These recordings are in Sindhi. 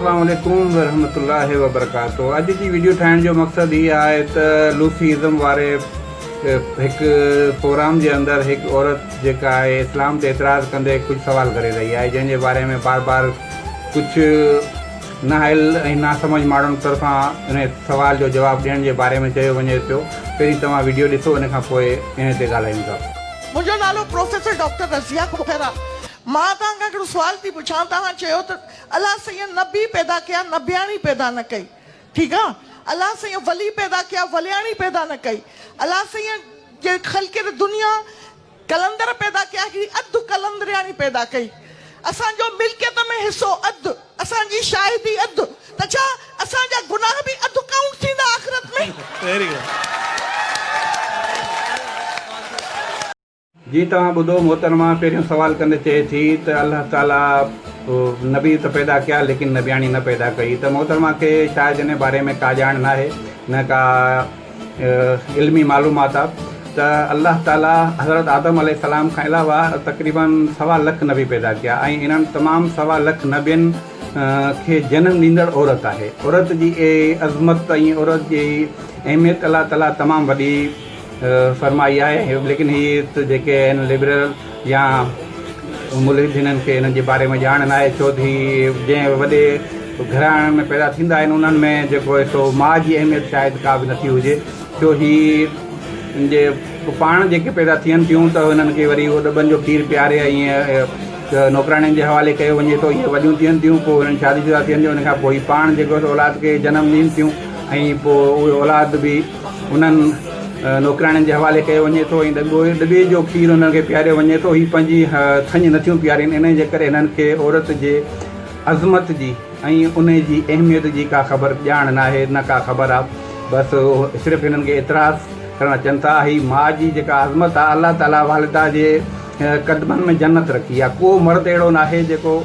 اسلام عليڪم ورحمة الله وبرڪاته اڄ جي ويڊيو ٺاهڻ جو مقصد هي آهي ته لوسي ازم واري هڪ پروگرام جي اندر هڪ عورت جيڪا آهي اسلام تي اعتراض ڪندي ڪجهه سوال ڪري رهي آهي جنهن جي باري ۾ بار بار ڪجهه نااهل ۽ ناسمجهه ماڻهن طرفان انهيء سوال جو جواب ڏيڻ جي باري ۾ چيو وڃي پيو. پهرين توهان وڊيو ڏسو ان کان پوء انهيء تي ڳالهايون ٿا. منهنجو نالو پروفيسر ڊاڪٽر رضيه کهر آ. مان توهان کان هڪڙو سوال ٿي پڇان توهان چيو ته الله سائين نبي پيدا ڪيا نبياڻي پيدا نه ڪئي ٺيڪ آ الله سائين ولي پيدا ڪيا ولياڻي پيدا نه ڪئي الله سائين جي خلقت دنيا قلندر پيدا ڪيا هي اڌ قلندرياڻي پيدا ڪئي اسان جو ملڪيت ۾ حصو اڌ اسان جي شاهدي اڌ ته ڇا اسان جا گناهه به اڌ ڪائونٽ ٿيندا آخرت ۾. جي توهان ٻڌو محترمه پهريون سوال ڪندي چئي ٿي ته الله تعالي نبي ته پيدا ڪيا ليڪن نبياڻي نه پيدا ڪئي ته محترمه کي شايد ان باري ۾ ڪا ڄاڻ ناهي نه ڪا علمي معلومات آهي ته الله تعاليٰ حضرت آدم عليه السلام کان علاوه تقريباً سوا لک نبي پيدا ڪيا ۽ انهن تمام سوا لک نبين کي جنم ڏيندڙ عورت آهي عورت جي عظمت ۽ عورت جي اهميت الله تعاليٰ تمام وڏي فرمائي آهي ليڪن هي جيڪي آهن لبرل يا ملحدينن کي انهن جي باري ۾ ڄاڻ ناهي ڇوته هي جنهن وڏي گهراڻن ۾ پيدا ٿيندا آهن انهن ۾ جيڪو هي سو ماء جي اهميت شايد ڪا به نٿي هجي ڇو هي ان جي پاڻ جيڪي پيدا ٿين ٿيون ته انهن کي وري اهو ڏٻن جو کير پياري ۽ نوڪراڻين جي حوالي ڪيو وڃي ٿو هي وڏيون ٿين ٿيون پوء انهن شادي شدا ٿين ٿيون ان کان پوء هي پاڻ جيڪو اولاد کي جنم ڏين ٿيون ۽ پوء اهو اولاد به انهن نوڪرياڻين جي حوالي ڪيو وڃي ٿو ۽ ڳوهي ڏٻي جو کير انهن کي پياريو وڃي ٿو. هي پنهنجي ٿڃ نٿيون پيارين، انهيء جي ڪري هنن کي عورت جي عظمت جي ۽ ان جي اهميت جي ڪا خبر ڄاڻ ناهي، نه ڪا خبر آ. بس صرف هنن کي اعتراض ڪرڻ اچن ٿا. اهي ماء جي جيڪا عظمت آ، الله تعاليٰ والده جي قدمن ۾ جنت رکي آ. ڪو مرد اهڙو ناهي جيڪو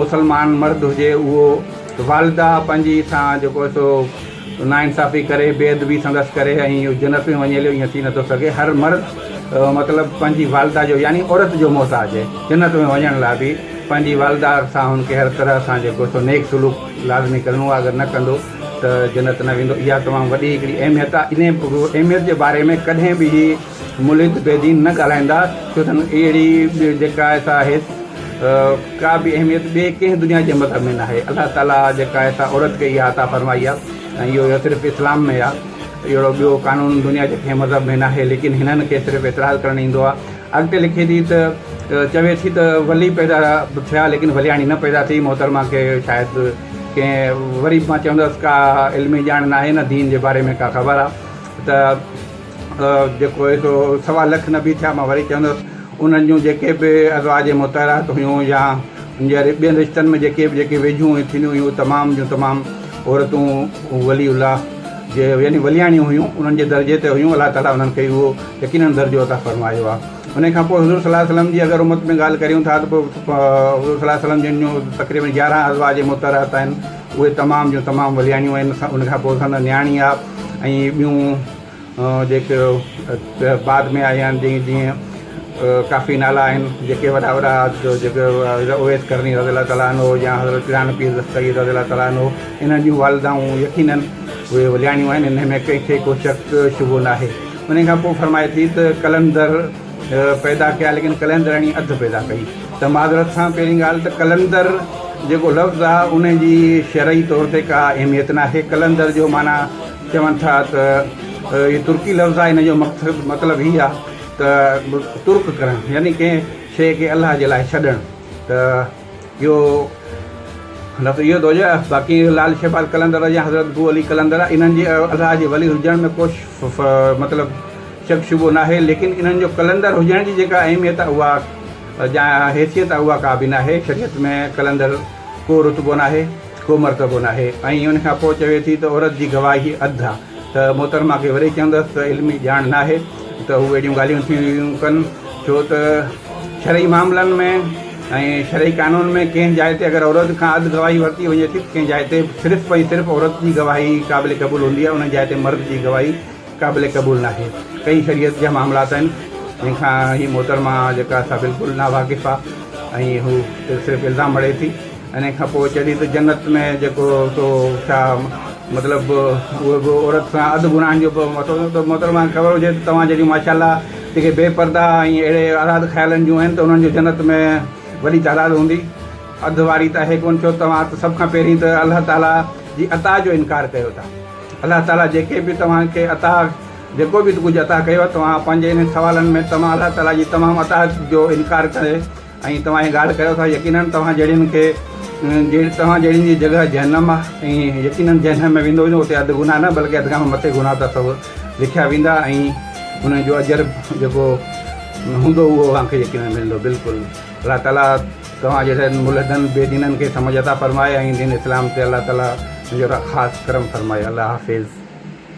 مسلمان مرد هجي اهو والده پنهنجي سان جيڪو سو ناانصافي ڪري، بي ادبي سندس ڪري ۽ اهو جنت ۾ وڃي هليو، ائين ٿي نٿو سگهي. هر مرد مطلب پنهنجي والده جو يعني عورت جو محتاج هي. جنت ۾ وڃڻ لاء به پنهنجي والده سان هن کي هر طرح سان جيڪو سو نيڪ سلوڪ لازمي ڪرڻو آهي، اگر نه ڪندو ته جنت نه ويندو. اها تمام وڏي هڪڙي اهميت آهي. انهيء اهميت جي باري ۾ ڪڏهن به هي ملحد بي دين نه ڳالهائيندا، ڇو ته اهڙي جيڪا سا آهي ڪا به اهميت ٻئي ڪنهن دنيا جي مذهب ۾ ناهي، الله تعاليٰ جيڪا سا عورت کي اها عطا فرمائي آهي ۽ اهو صرف اسلام ۾ آهي، اهڙو ٻيو قانون دنيا جي ڪنهن مذهب ۾ ناهي، ليڪن هنن کي صرف اعتراض ڪرڻ ايندو آهي، اڳتي لکي ٿي ته چوي ٿي ته ولي پيدا ٿيا ليڪن ولياڻي نه پيدا ٿي، محترمه کي شايد ڪنهن وري به مان چوندس ڪا علمي ڄاڻ ناهي نه دين جي باري ۾ ڪا خبر آهي ته. جيڪو هي سو سوا لک نبي ٿيا مان وري چوندس انهن جون جيڪي به ازواج مطهرات هيون يا ان جي ٻين رشتن ۾ جيڪي به جيڪي ويجهون هيون ٿينديون هيون تمام جون تمام عورتون ولي الله جي يعني ولياڻيون هيون انهن جي درجي تي هيون الله تعالي انهن کي اهو يقينن درجو عطا فرمايو آهي ان کان پوء حضور صلي الله عليه وسلم جي اگر امت ۾ ڳالهه ڪريون ٿا ته پوء حضور صلي الله عليه وسلم جن جون تقريبن يارهن ازواج مطهرات آهن اهي تمام جون تمام ولياڻيون آهن ان کان پوء سندن نياڻي آهي ۽ ٻيون جيڪي بعد ۾ آيا آهن جيئي جيئن ڪافي نالا آهن جيڪي وڏا وڏا جيڪي اويس قرني رضي الله تعالٰي عنه يا حضرت پيراڻ پير دستگير رضي الله تعالٰي عنه انهن جون والدائون يقينن اهي ولياڻيون آهن انهن ۾ ڪنهن کي ڪو شڪ شبهو ناهي انهي کان پوء فرمائي ٿي ته قلندر پيدا ڪيا ليڪن قلندرڻي اڌ پيدا ڪئي ته معذرت سان پهرين ڳالهه ته قلندر جيڪو لفظ آهي انهي جي شرعي طور تي ڪا اهميت ناهي قلندر جو معنيٰ چون ٿا ته هي ترڪي لفظ آهي، ان جو مطلب هي آهي ته ترڪ ڪرڻ يعني ڪنهن شيء کي الله جي لاء ڇڏڻ ته اهو لفظ اهو ٿو هجي باقي لعل شهباز قلندر يا حضرت بو علي قلندر انهن جي الله جي ولي هجڻ ۾ ڪو مطلب شڪ شبهو ناهي ليڪن انهن جو قلندر هجڻ جي جيڪا اهميت آهي اها جا حيثيت آهي اها ڪا به ناهي شريعت ۾ قلندر ڪو رتبو ناهي. ڪو مرتبو ناهي ۽ ان کان پوء چوي ٿي ته عورت جي گواهي اڌ آ ته محترمه کي وري چوندس ته علمي ڄاڻ ناهي ته هو اهڙيون ڳالهيون ٿيون ڪن ڇو ته شرعي معاملن ۾ ۽ شرعي قانون ۾ ڪنهن جاء تي اگر عورت کان اڌ گواهي ورتي وڃي ٿي ته ڪنهن جاء تي صرف ۽ صرف عورت جي گواهي قابل قبول هوندي آ انهي جاء تي مرد جي گواهي قابل قبول ناهي ڪئي شريعت جا معاملات آهن جن کان هي محترمه جيڪا سا بلڪل نا واقف آ ۽ هو صرف الزام هڙي ٿي انهي کان پوء چئي ٿي ته جنت ۾ جيڪو سو ڇا مطلب اهو به عورت سان اڌ گناهن جو به مٿو ته محترمه کي خبر هجي ته توهان جهڙيون ماشاءالله جيڪي بي پرده ۽ اهڙي آزاد خيالن جون آهن ته انهن جو جنت ۾ وڏي تعداد هوندي اڌ واري ته اهي ڪون ڇو ته توهان ته سڀ کان پهرين ته الله تعالي جي عطا جو انڪار ڪيو ٿا الله تعاليٰ جيڪي به توهان کي عطا جيڪو به ڪجهه عطا ڪيو توهان پنهنجي انهن سوالن ۾ توهان الله تعاليٰ جي تمام عطا جو انڪار ڪري ۽ توهان هي ڳالهه ڪريو ٿا يقيناً توهان جهڙين کي توهان جهڙين جي جڳهه جهنم آهي ۽ يقيناً جنهن ۾ ويندو ويندو اتي اڌ گناهه نه بلڪه اڌ کان به مٿي گناهه ته اٿو لکيا ويندا ۽ انهن جو اجر جيڪو هوندو اهو اوهان کي يقيناً ملندو بلڪل الله تعاليٰ توهان جهڙن ملحدن بي دينن کي سمجھ عطا فرمائي ۽ دين اسلام تي الله تعالي جو خاص ڪرم فرمائي الله حافظ.